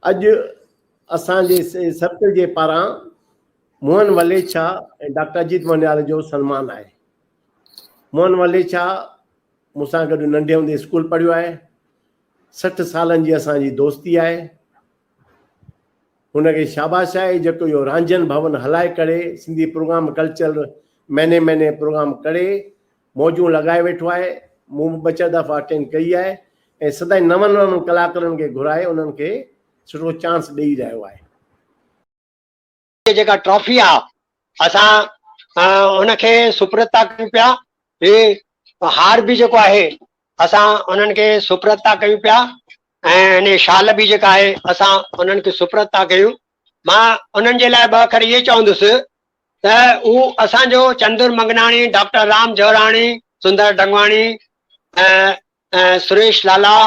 اڄ اسان جي سبق جي پاران موهن وليچا ۽ ڊاڪٽر اجيت مونيال جو سنمان آهي موهن وليچا مون سان گڏ ننڍي هوندي اسڪول پڙهيو آهي سٺ سالن جي اسان جي دوستي آهي هن کي شاباش آهي جيڪو اهو رانجهن ڀون هلائي ڪڙي سنڌي پروگرام ڪلچر مهني مهني پروگرام ڪڙي موجون لڳائي ويٺو آهي مون به ٻه چار دفعا اٽينڊ ڪئي آهي ۽ سدائين نون نون ڪلاڪرن کي گهرائي انهن کي سٺو چانس ڏئي رهيو آهي جي جيڪا ٽرافي آ اسان ان کي سپرد ٿا ڪيون پيا هي هار به جيڪو آهي اسان انهن کي سپرد ٿا ڪيون پيا ۽ هن شال به جيڪا آهي اسان انهن کي سپرد ٿا ڪيون مان انهن جي لاء ٻه اکر اهي چوندس ته هو اسان جو چندر منگناڻي ڊاڪٽر رام جوراڻي سندر ڊنگواڻي سريش لالا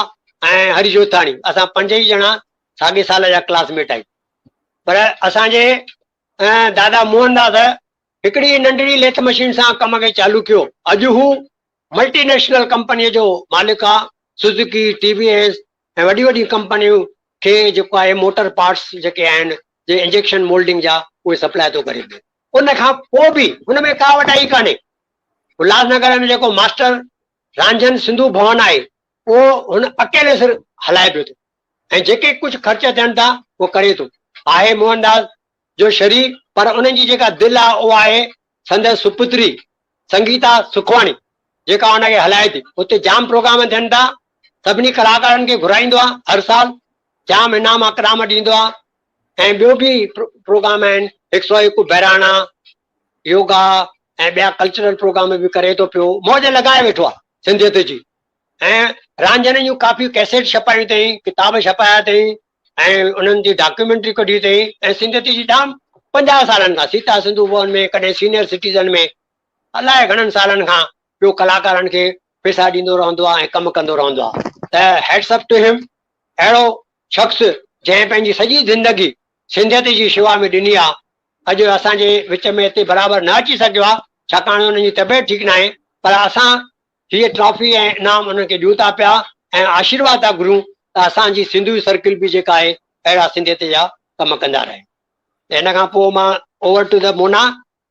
۽ هري جوتاڻي اسان پنج ئي ڄڻا ساڳي سال جا ڪلاس ميٽ آهيون پر اسان جي دادا موهن داس هڪڙي ننڍڙي ليٿ مشين سان ڪم کي چالو ڪيو. اڄ هو ملٽي نيشنل ڪمپنيء جو مالڪ آ، سوزوڪي، ٽي وي ايس ۽ وڏيون وڏيون ڪمپنيون کي جيڪو آهي موٽر پارٽس جيڪي آهن جي انجيڪشن مولڊنگ جا اهي سپلاء ٿو ڪري پيو. ان کان پوء به هن ۾ ڪا وڏائي ڪانهي. الهاس نگر ۾ جيڪو ماسٽر رانجهن سنڌو ڀون آهي اهو هن اڪيلي سر هلائي پيو ٿو. ۽ جيڪي ڪجهه خرچ ٿين ٿا اهو ڪري ٿو. آهي موهن داس جو شرير پر انهن جي جيڪا دل آهي اها آهي سندس سپتري سنگيتا سکواڻي جيڪا ان کي هلائي ٿي. اتي جام پروگرام ٿين ٿا سڀني ڪلاڪارن کي گهرائيندو آهي هر سال جام انعام اڪرام ڏيندو آهي ۽ ٻيو به پروگرام آهن هڪ سؤ هڪ بهراڻا يوگا ۽ ٻيا ڪلچرل پروگرام به ڪري ٿو پيو موج لڳائي ويٺو آهي سنڌيت جي. ۽ رانجهڻين جون ڪافيون ڪيسيٽ ڇپايون اٿئين، ڪتاب ڇپايا اٿئين ۽ انهن جي ڊاڪيومينٽري ڪڍي اٿئين ۽ سنگت جي ڄام پنجاهه سالن کان سيتا سنڌو ڀون ۾ ڪڏهن سينئر سٽيزن ۾ الاء گهڻن سالن کان ٻيو ڪلاڪارن کي پيسا ڏيندو رهندو آهي ۽ ڪم ڪندو رهندو آهي ته هيٽس اپ ٽو هيم اهڙو شخص جنهن پنهنجي سڄي زندگي سنڌيت جي شيوا ۾ ڏني آهي اڄ اسان جي وچ ۾ هتي برابر نه اچي سگهيو آهي ڇاڪاڻ هن جي طبيعت ٺيڪ ناهي پر اسان هيء ٽرافي ۽ انعام انهن کي ڏيون ٿا پيا ۽ آشيرواد ٿا گهرون ته اسان جي سنڌوي سرڪل به جيڪا آهي اهڙا سنڌيت جا ڪم ڪندا رهي. ته ان کان پوء مان اوور ٽو ته مونا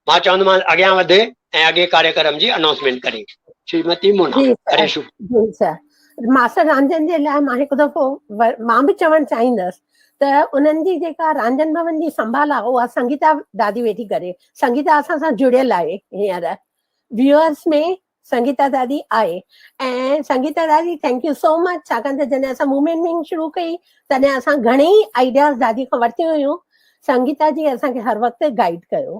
مان چوندومانس اڳيان وڌ ۽ اڳئين ڪاريڪرم جي انائونسمينٽ ڪري. شريمتي مونا ڪري شروع. جي سر. ماستر رانجهن جي لاء مان هڪ دفعو مان به چوڻ چاهيندس ته انهن جي جيڪا رانجهن ڀون جي سنڀال آهي اها سنگيتا دادي ويٺي ڪري. سنگيتا اسان سان جڙيل آهي هينئر ويوئرس ۾ سنگيتا دادي آء ۽ سنگيتا دادي ٿينڪ يو سو مچ ڇاڪاڻ ته جڏهن اسان موومينٽ مين شروع ڪئي تڏهن اسان گهڻي ئي آئيڊياز دادي کان ورتيون هيون سنگيتا جي اسان کي هر وقت گائيڊ ڪيو